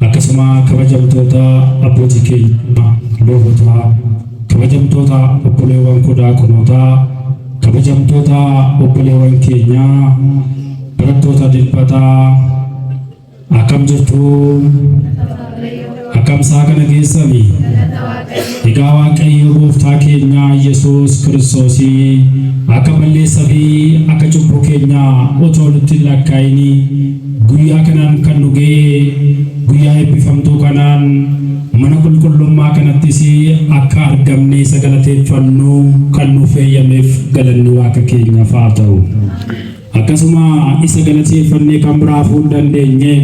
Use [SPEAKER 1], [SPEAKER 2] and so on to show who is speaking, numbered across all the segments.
[SPEAKER 1] Akkasuma kabajamtoota abbootii keenyaa luubotaa, kabajamtoota obboleewwan koo daaqonootaa, kabajamtoota obboleewwan keenyaa barattoota dilbataa akkam jirtu? Akkam isaa kana keessanii? Egaa Waaqayyo gooftaa keenya Yesuus Kiristoosi akka balleessa fi akka cubbuu keenya otoo nutti hin lakkaa'ini guyyaa kanaan kan nu ga'e guyyaa eebbifamtuu kanaan mana qulqullummaa kanattis akka argamne isa galateeffannu kan nuuf eeyyameef galanni Waaqa keenyaaf haa ta'u. Akkasuma isa galateeffannee kan biraa hafuu hin dandeenye.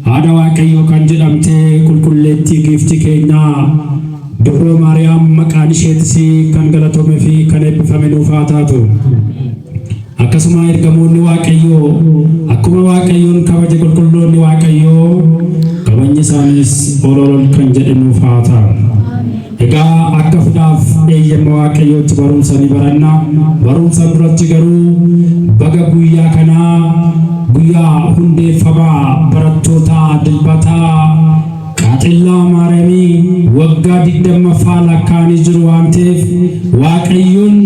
[SPEAKER 1] Haadha Waaqayyoo kan jedhamte qulqulleettii giiftii keenya Dubroo Maariyaam maqaan isheetis kan galatome fi kan eebbifame nuuf haa taatu. Akkasuma ergamoonni Waaqayyoo akkuma Waaqayyoon kabaje qulqulloonni Waaqayyoo kabajni isaaniis ol ol ol kan jedhe nuuf haa ta'a. Egaa akka fudhaaf eeyyama Waaqayyootti barumsa ni baranna. Barumsa duratti garuu baga guyyaa kanaa guyyaa hundeeffama barattootaa dilbataa Qaaxellaa Maariyaamii waggaa digdammaffaa lakkaa'anii jiru waan ta'eef Waaqayyoon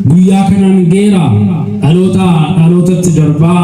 [SPEAKER 1] guyyaa kanaan geera dhaloota dhalootatti darbaa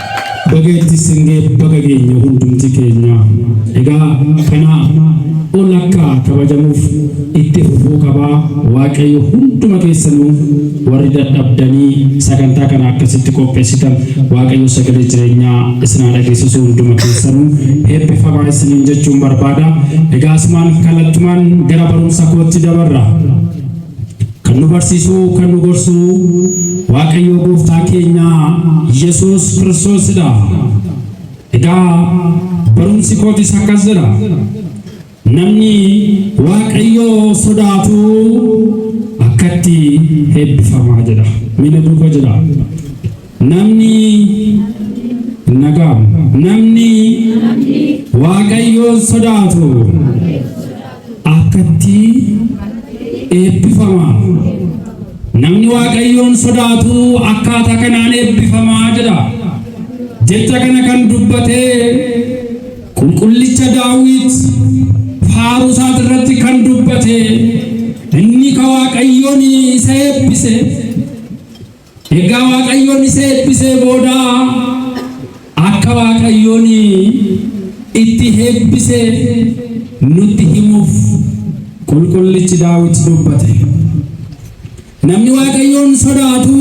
[SPEAKER 1] Baga itti isin ga'e baga geenye hundumti keenya. Egaa kanaaf ol akka kabajamuuf itti fufuu qabaa Waaqayyo hunduma keessanuu warri dadhabdanii sagantaa kana akkasitti qopheessitan Waaqayyo sagalee jireenyaa isin haa dhageessisu hunduma keessanuu eebbifamaa isiniin jechuun barbaada. Egaa asumaan kallattumaan gara barumsa kootti dabarra. Kan nu barsiisuu, kan nu gorsuu Waaqayyoo gooftaa keenya Yesuus Kiristoosidha. Egaa barumsi kootis akkas jedha. Namni Waaqayyoo sodaatu akkatti eebbifamaa jedha. Miila duuba jedha. Namni nagaa namni waaqayyoon sodaatu akkatti eebbifama. Namni waaqayyoon sodaatu akkaataa kanaan eebbifamaa jedha. Jecha kana kan dubbate qulqullicha daawwit faaruu isaati irratti kan dubbate inni ka waaqayyoon isa eebbise Ergaa Waaqayyoon isa eebbisee booda akka Waaqayyoon itti eebbiseef nutti himuuf qulqullichi Daawit dubbate. Namni Waaqayyoon sodaatu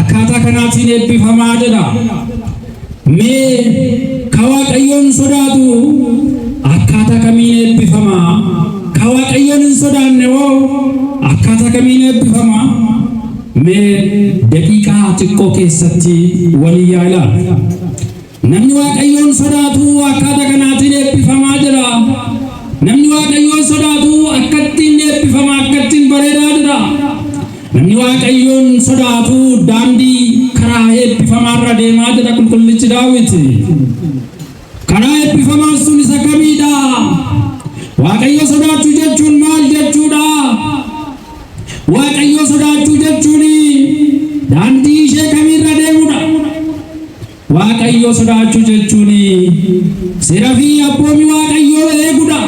[SPEAKER 1] akkaataa kanaatiin eebbifamaa jedha. Mee ka Waaqayyoon sodaatu akkaataa kamiin eebbifama? Ka Waaqayyoon hin sodaanne hoo akkaataa kamiin eebbifama? Mee daqiiqaa xiqqoo keessatti walii yaa ilaalu. Namni Waaqayyoon sodaatu akkaataa kanaatiin eebbifamaa jira. Namni Waaqayyoon sodaatu akkattiin eebbifama, akkattiin bareedaa jira. Namni Waaqayyoon sodaatu daandii karaa eebbifamaarra deemaa jedha qulqullichi Daawit. Karaa eebbifamaan sun isa kamiidha? Waaqayyo sodaachuu jechuun maal jechuudha? Waaqayyo sodaachuu jechuun daandii ishee kamiirra deemudha? Waaqayyo sodaachuu jechuun seera fi abboomi Waaqayyoo eegudha.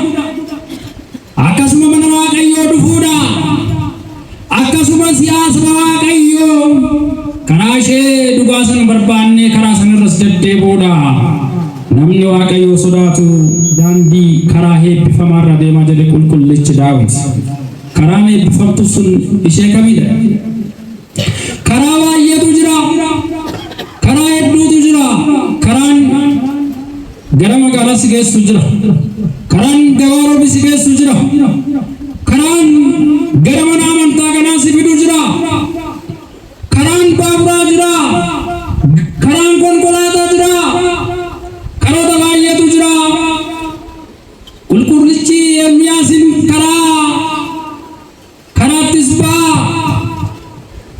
[SPEAKER 1] Akkasuma mana Waaqayyoo dhufuudhaa. Akkasuma si'aa saba Waaqayyoo karaa ishee dhugaa sana barbaannee karaa sanarras deddeebi'uudha. Namni Waaqayyoo sodaatu daandii karaa eebbifamaa irra deemaa jedhe qulqullichi Daawit. Karaan eebbifamtu sun ishee kamidha? Karaa baay'eetu jira. Karaa hedduutu jira. Karaan gara magaalaa si geessu jira. Karaan gabaa roobi si geessu jira. Karaan gara mana amantaa kanaa si fidu jira. Karaan baaburaa jira. Karaan konkolaataa jira. Karoota baay'eetu jira. Qulqullichi Ermiyaasin karaa Karaattis ba'aa,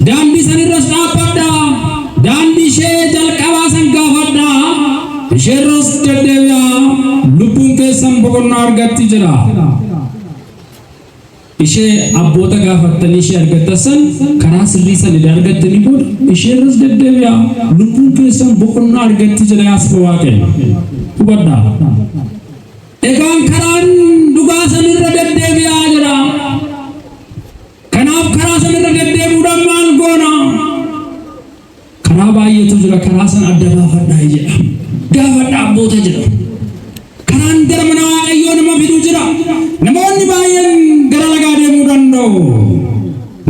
[SPEAKER 1] daandii san irras dhaabbadhaa, daandii ishee jalqabaa san gaafadhaa, ishee irras deddeebi'aa, lubbuun keessan boqonnaa argatti jedha. Ishee abboota gaafattanii ishee argattan san karaa sirrii san idaa argattanii booda ishee irras deddeebi'aa, lubbuun keessan boqonnaa argatti jedha yaasba waaqayyo. Hubadhaa. Egaan karaan dhugaa san irra deddeebi'aa jira. Kanaaf karaa san irra deddeebi'uudhaan maal goona? Karaa baay'eetu jira karaa san adda baafadhaa jedha. Gaafadhaa abboota jedha. Karaan gara mana Waaqayyoo nama fidu jira. Namoonni baay'een gara lagaa deemuu danda'u.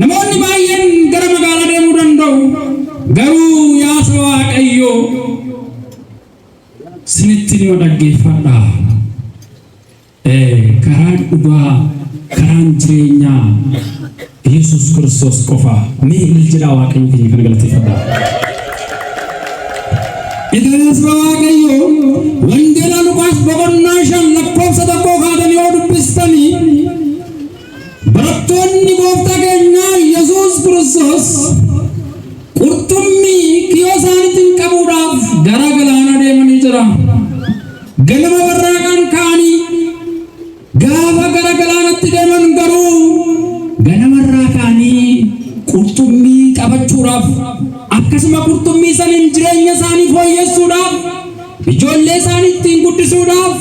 [SPEAKER 1] Namoonni baay'een gara magaalaa deemuu danda'u. Garuu yaa saba Waaqayyoo Sinitti hima dhaggeeffadhaa. Ee, karaan dhugaa, karaan jireenyaa Yesus Kiristoos qofa. Mee ilil jedhaa Waaqayyo keenya kana galateeffadhaa. Egaa saba Waaqayyoo wangeela Luqaas boqonnaa shan lakkoofsa tokkoo kaatanii yoo dubbistanii Barattoonni Gooftaa keenyaa Yesuus Kiristoos qurxummii kiyoo isaaniitiin qabuudhaaf gara galaanaa deemanii jira. Ganama warraaqaan ka'anii gaafa gara galaanatti deeman garuu ganamarraa ka'anii qurxummii qabachuudhaaf akkasuma qurxummii saniin jireenya isaanii fooyyessuudhaaf ijoollee isaanii ittiin guddisuudhaaf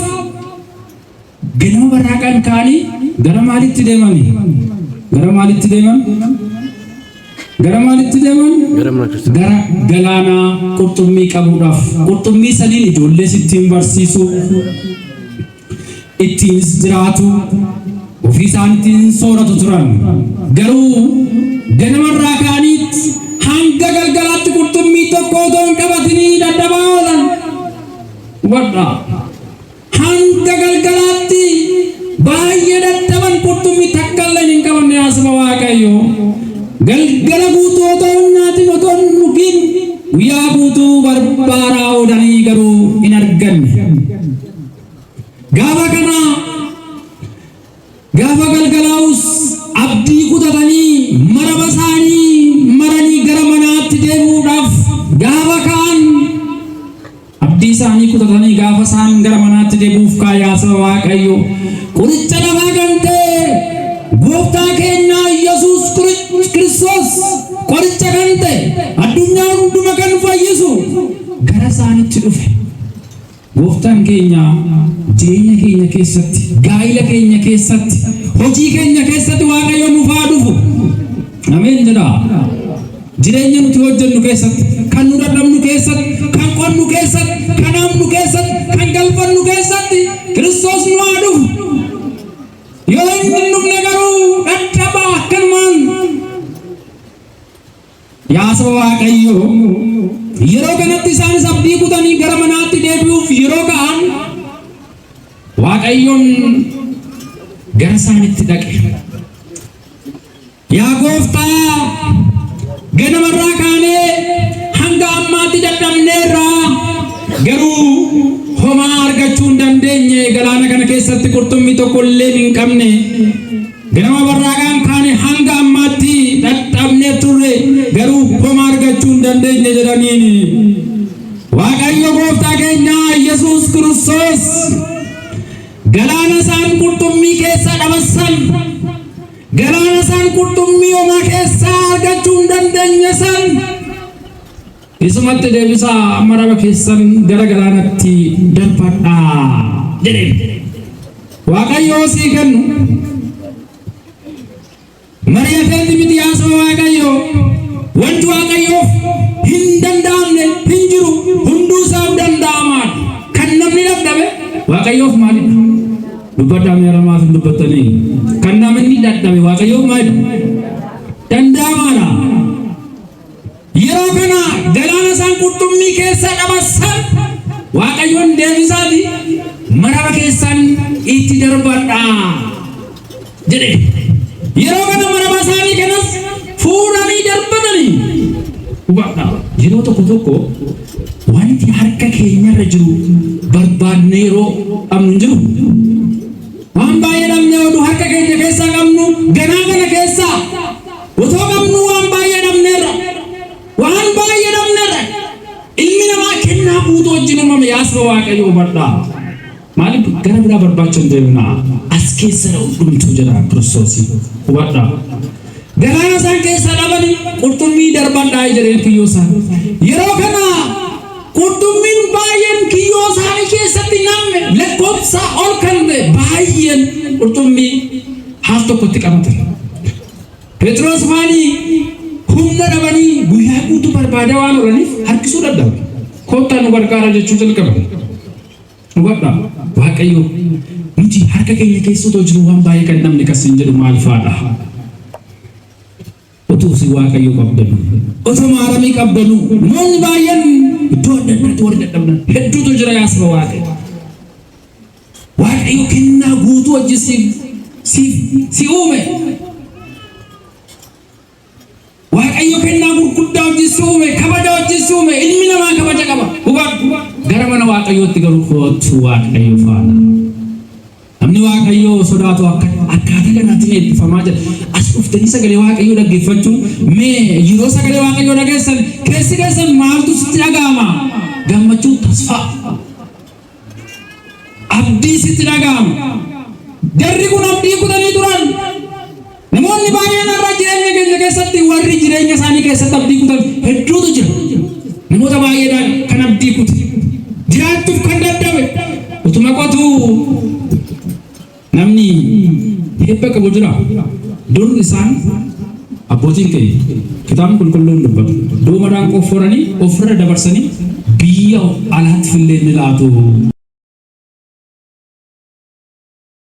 [SPEAKER 1] Ganama barraaqaan ka'anii gara maalitti deemani? Gara maalitti deeman? Gara maalitti deeman? Gara mana kiristaanaa. Gara galaanaa qurxummii qabuudhaaf. Qurxummii saniin ijoollees ittiin barsiisu, ittiinis jiraatu, ofii isaaniitiin sooratu turan. Garuu ganamarraa ka'aniitti hanga galgalaatti qurxummii tokko otoo hin qabatinii dadhabaa oolan. Hubadhaa. Hanga galgalaatti baay'ee dadhaban qurxummi takka illee hin qabamne yaa saba Waaqayyo. Galgala guutuu otoo hin nyaatin otoo hin dhugin guyyaa guutuu barbaadaa oolanii garuu hin arganne. Gaafa kana Gaafa galgalaa'us abdii kutatanii maraba isaanii maranii gara manaatti deebi'uudhaaf gaafa ka'an abdii isaanii kutatanii gaafa isaan gara manaatti deebi'uuf kaayaa saba Waaqayyo qoricha lafaa kan ta'e gooftaa keenyaa Yesuus Kiristoos qoricha kan ta'e addunyaa hunduma kan fayyisu gara isaanitti dhufe. Gooftaan keenya jireenya keenya keessatti, gaa'ila keenya keessatti, hojii keenya keessatti Waaqayyo nuuf haa dhufu. Ameen jedhaa. Jireenya nuti hojjennu keessatti, kan nu dadhabnu keessatti, kan qonnu keessatti, kan hamnu keessatti, kan galfannu keessatti Kiristoos nu haa dhufu. Yoo inni hin dhufne garuu dhadhabaa akkanumaan Yaa saba Waaqayyoo, yeroo kanatti isaanis abdii kutanii gara manaatti deebi'uuf yeroo ka'an Waaqayyoon gara isaanitti dhaqe. Yaa gooftaa, ganamarraa kaanee hanga ammaatti dadhabneerra garuu homaa argachuu hin dandeenye galaana kana keessatti qurxummii tokko illee hin qabne. Gama warraaqaan kaane hanga ammaatti dhaqqabnee turre garuu homaa argachuu hin dandeenye jedhaniin. Waaqayyo gooftaa keenya Yesuus Kiristoos galaana isaan qurxummii keessaa dhabassan galaana isaan qurxummii homaa keessaa argachuu hin dandeenye san Isumatti deebisaa maraba keessan gara galaanatti darbadhaa jedheen. Waaqayyoo sii kennu. Mari'ateetti miti haasoo Waaqayyoo. Wanti Waaqayyoof hin danda'amne hin jiru hunduu isaaf danda'amaa. Kan namni dadhabe Waaqayyoof maalidha? Dubbadhaa mee haramaaf hin dubbattanii. Kan namni dadhabe Waaqayyoof maalidha? Danda'amaadha. Yeroo kana galaana isaan qurxummii keessaa dabarsan Waaqayyoon deebisaati maraba keessaan itti darbadha jedhe. Yeroo kana maraba isaanii kanas fuudhanii darbatanii hubadha. Yeroo tokko tokko wanti harka keenyarra jiru barbaadne yeroo qabnu hin jiru. Waan baay'ee dhabnee oduu harka keenya keessaa qabnu ganaa kana keessaa Otoo qabnuu waan baay'ee dhabneerra. Waan baay'ee dhabneerra. Ilmi namaa kennaa guutuu wajjin uumame yaa saba Waaqayyoo hubadhaa. Maaliif gara biraa barbaacha hin deemnaa? As keessa dha hundumtuu jedha Kiristoos. Hubadhaa. Garaa isaan keessaa dhabanii qurxummii darbadhaa jedheen kiyyoo isaan. Yeroo kana qurxummiin baay'een kiyyoo isaanii keessatti namne lakkoofsaa ol kan ta'e baay'een qurxummii haaf tokkotti qabatan. Phexros maali humna dhabanii guyyaa guutuu barbaadaa waan oolaniif harkisuu dadhabu. Koottaa nu gargaara jechuu jalqaban. Hubadhaa Waaqayyo nuti harka keenya keessa otoo jiru waan baay'ee kan namni kasiin jedhu maal faadha? Utuu si Waaqayyo qabdanu, otoo maaramii qabdanu, namoonni baay'een iddoo adda addaatti warri dadhabdan hedduutu jira yaasaba Waaqayyo. Waaqayyo kennaa guutuu wajjin siif siif si uume. Waaqayyo kennaa gurguddaa wajjin si uume, kabaja wajjin si uume, ilmi namaa kabaja qaba. Hubadhu. Gara mana Waaqayyootti garuu kootu Waaqayyo faana. Namni Waaqayyoo sodaatu akka akkaataa kanaatiin eebbifamaa jira. As dhuftanii sagalee Waaqayyoo dhaggeeffachuun mee yeroo sagalee Waaqayyoo dhageessan keessi keessan maaltu sitti dhaga'ama? Gammachuun tasfaa. Abdii sitti dhaga'ama. Jarri kun abdii kutanii turan. Namoonni baay'een har'a jireenya keenya keessatti warri jireenya isaanii keessatti abdii kutan hedduutu jira. Namoota baay'eedhaan kan abdii kute. Jiraachuuf kan dadhabe. Utuma qotuu Namni hirpha qabu jiraa? Dur isaan, abbootiin keenya, Kitaabni Qulqulluun dubbata, doomadhaan qofforanii of irra dabarsanii biyya alaattillee ni laatu.